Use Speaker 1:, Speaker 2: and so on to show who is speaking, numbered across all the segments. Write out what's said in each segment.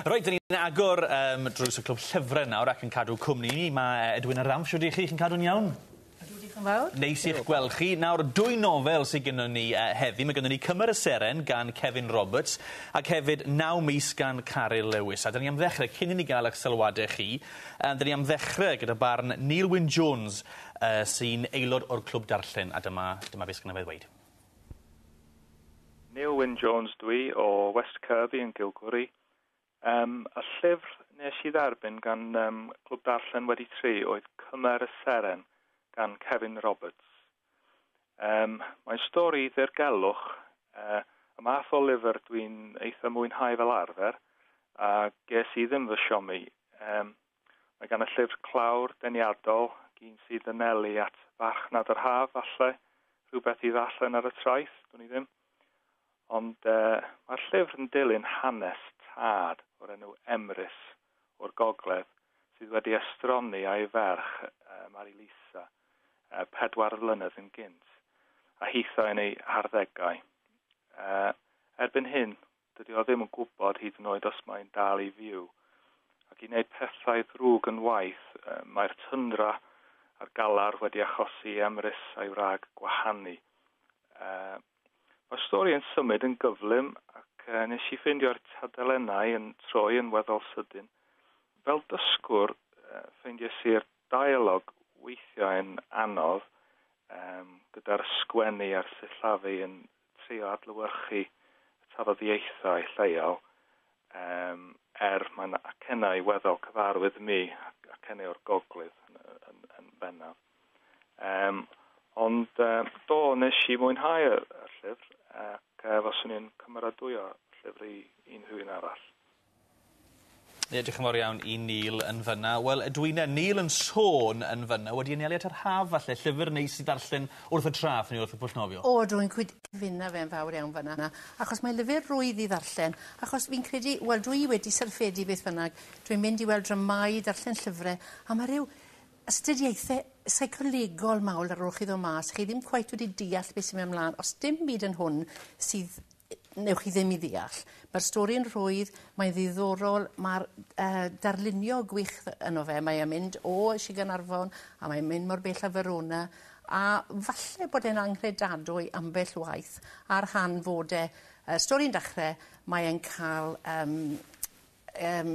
Speaker 1: Reit, dyn ni'n agor um, drws y clwb llyfrau nawr ac yn cadw cwmni ni. Mae e, Edwin a Ram, siwr i chi, chi'n cadw'n iawn? Ydw, diolch yn fawr. Neis i'ch gweld chi. Nawr, dwy nofel sydd gennym ni uh, heddi. Mae gennym ni Cymru y Seren gan Kevin Roberts ac hefyd Naw Mis gan Caryl Lewis. A dyn ni am ddechrau, cyn i ni gael eich sylwadau chi, uh, dyn ni am ddechrau gyda barn Neil Wyn Jones uh, sy'n aelod o'r Clwb Darllen a dyma, dyma beth sgynna fe ddweud. Neil Wyn Jones dw i, o West Kirby yn Gilgwri. Yym, y llyfr nes i dderbyn gan yym Clwb Darllen Wedi Tri oedd Cymer y Seren gan Cefin Roberts. Yym, mae'n stori ddirgelwch, yy, y math o lyfr dwi'n eitha mwynhau fel arfer, a ges i ddim fy siomi. Yym, Mae gan y llyfr clawr deniadol, gin sydd yn nelu at farchnad yr haf, falle, rhywbeth i ddarllen ar y traeth, dwn i ddim. Ond e, mae'r llyfr yn dilyn hanes tad o'r enw Emrys o'r gogledd sydd wedi estroni a'i ferch, e, Mari Lisa, e, pedwar flynedd yn gynt, a hitho yn ei harddegau. E, erbyn hyn, Dydy o ddim yn gwybod hyd yn oed os mae'n dal i fyw. Ac i wneud pethau ddrwg yn waeth, mae'r tyndra a'r galar wedi achosi i Emrys a'i wrag gwahanu. Mae'r stori yn symud yn gyflym ac nes i ffeindio'r tadelenau yn troi yn weddol sydyn. Fel dysgwr, ffeindies i'r deialog weithiau yn anodd, gyda'r sgwennu a'r sillafu yn trio adlewyrchu y tafodieithau lleol, yym, er mae 'na acennau weddol cyfarwydd imi, ac acennau o'r Gogledd yn, yn, yn bennaf. Yym, ond um, do, nes i mwynhau y, y llyfr, ac uh, faswn i'n cymeradwyo llyfr i unrhyw un arall. Ie dioch yn fawr iawn i Neil yn fyn 'na. Wel ydw i 'ne. Neil yn sôn yn fyn 'na wedi anelu at yr haf falle llyfyr neis i ddarllen wrth y traeth neu wrth y pwll nofio. O ydw i'n cyd cyfuno fe'n fawr iawn fyn 'na achos mae lyfyr rwydd i ddarllen achos fi'n credu wel dw i wedi syrffedi beth bynnag dwi'n mynd i weld dramâu darllen llyfre a ma' ryw astudiaethe seicolegol mawr ar ôl chi ddod mas, chi ddim cweit wedi deall beth sy'n mynd ymlaen, os dim byd yn hwn sydd newch chi ddim i ddeall. Mae'r stori'n rhwydd, mae'n ddiddorol, mae'r uh, darlunio gwych yno fe, mae e'n mynd o Sir Gaernarfon a mae'n mynd mor bell a Verona, a falle bod e'n anghredadwy ambell waith, a'r rhan fod e, uh, stori'n dechrau, mae'n cael um, Yym,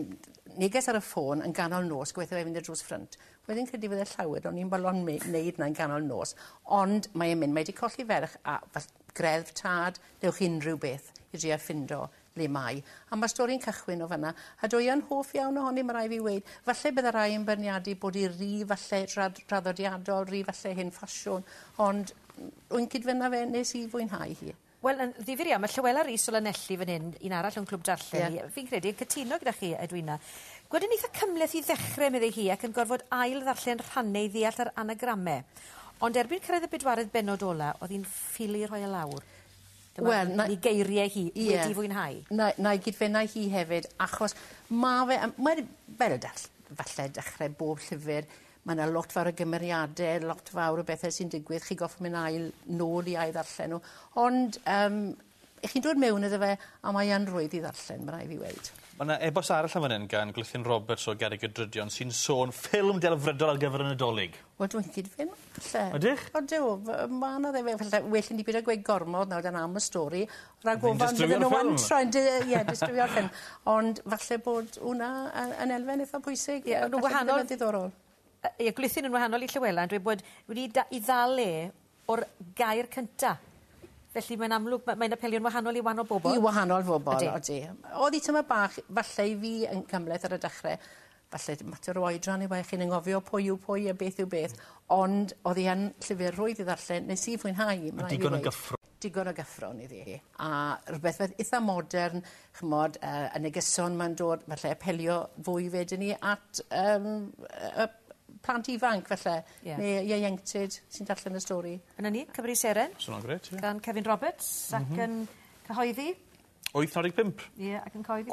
Speaker 1: neges ar y ffôn yn ganol nos, gobeithio fe fynd i'r drws ffrynt. Wedd i'n credu fod e llawer, o'n i'n balon me- neud na yn ganol nos, ond mae e'n mynd, mae 'di colli ferch a f- greddf tad, newch chi unrhyw beth i dria ffindo le mae. A ma'r stori'n cychwyn o fanna, a do iawn hoff iawn ohoni ma rai' fi weud, falle bydda rai yn byrniadu bod i ry falle drad- draddodiadol, ry falle hen ffasiwn, ond m- rwy'n cyd-fynna fe, nes i fwynhau hi. Wel yn ddifyr iawn ma' Llywela Rhys o Lanelli fan hyn un arall o'n clwb darllen ni. Ie. Fi'n credu yn cytuno gyda chi Edwina. Gwed yn itha cymleth i ddechre medde hi ac yn gorfod ail ddarllen rhanne i ddeall yr anagrame. Ond erbyn cyrraedd y bedwaredd bennod ola o'dd hi'n ffili rhoi e lawr. Dyma... Wel na... 'i geirie hi. Ie. Wedi fwynhau. Na- na'i gyd-fenna hi hefyd achos ma' fe yym mae fel dall- falle dechre bob llyfyr Mae yna lot fawr o gymeriadau, lot fawr o bethau sy'n digwydd, chi'n gorfod mynd ail nôl i ail ddarllen nhw. Ond um, i chi'n dod mewn iddo fe, a mae yn rwydd i ddarllen, mae rai fi weid. Mae yna ebos arall am fan hyn gan Glythyn Roberts o Garreg y Drydion sy'n sôn ffilm delfrydol ar gyfer y Nadolig. Wel, dwi'n cyd-fyn, falle. Ydych? Ydw, mae yna ddim, falle, well i ni byd o gweud gormod nawr dan am y stori, Rhag ofon bydden n'w yn troi'n dy- yy ie distrywio'r ffilm. Ond falle bod wnna yy yn elfen eitha pwysig. Ie yn wahanol... Ma'n ddiddorol. Yy ie gwlithyn yn wahanol i Llywela yn dweud bod wedi da- 'i ddal e o'r gair cynta. Felly mae'n amlwg ma' mae'n apelio'n wahanol i wanol bobol. I wahanol fobol. Ydi. Odi. O'dd 'i tymed bach falle i fi yn cymhleth ar y dechre falle dim mater o oedran yw e chi'n angofio pwy yw pwy a beth yw beth ond o'dd 'i yn llyfyr rhwydd i ddarllen nes i fwynhau 'i ma' rai' fi weud. Digon o gyffro-. digon o gyffrwng iddi hi a rhywbeth fel itha modern ch'mod yy y negeson 'ma'n dod falle apelio fwy wedyn 'ny at yym yy plant ifanc falle. Ie. Ne' ieuenctid sy'n darllen y stori. A 'na ni, Cymru i Seren. Sa wnna'n grêt ie. Gan Cefin Roberts. M-hm. Ac yn cyhoeddi... Wyth naw deg pump. Ie ac yn cyhoeddi...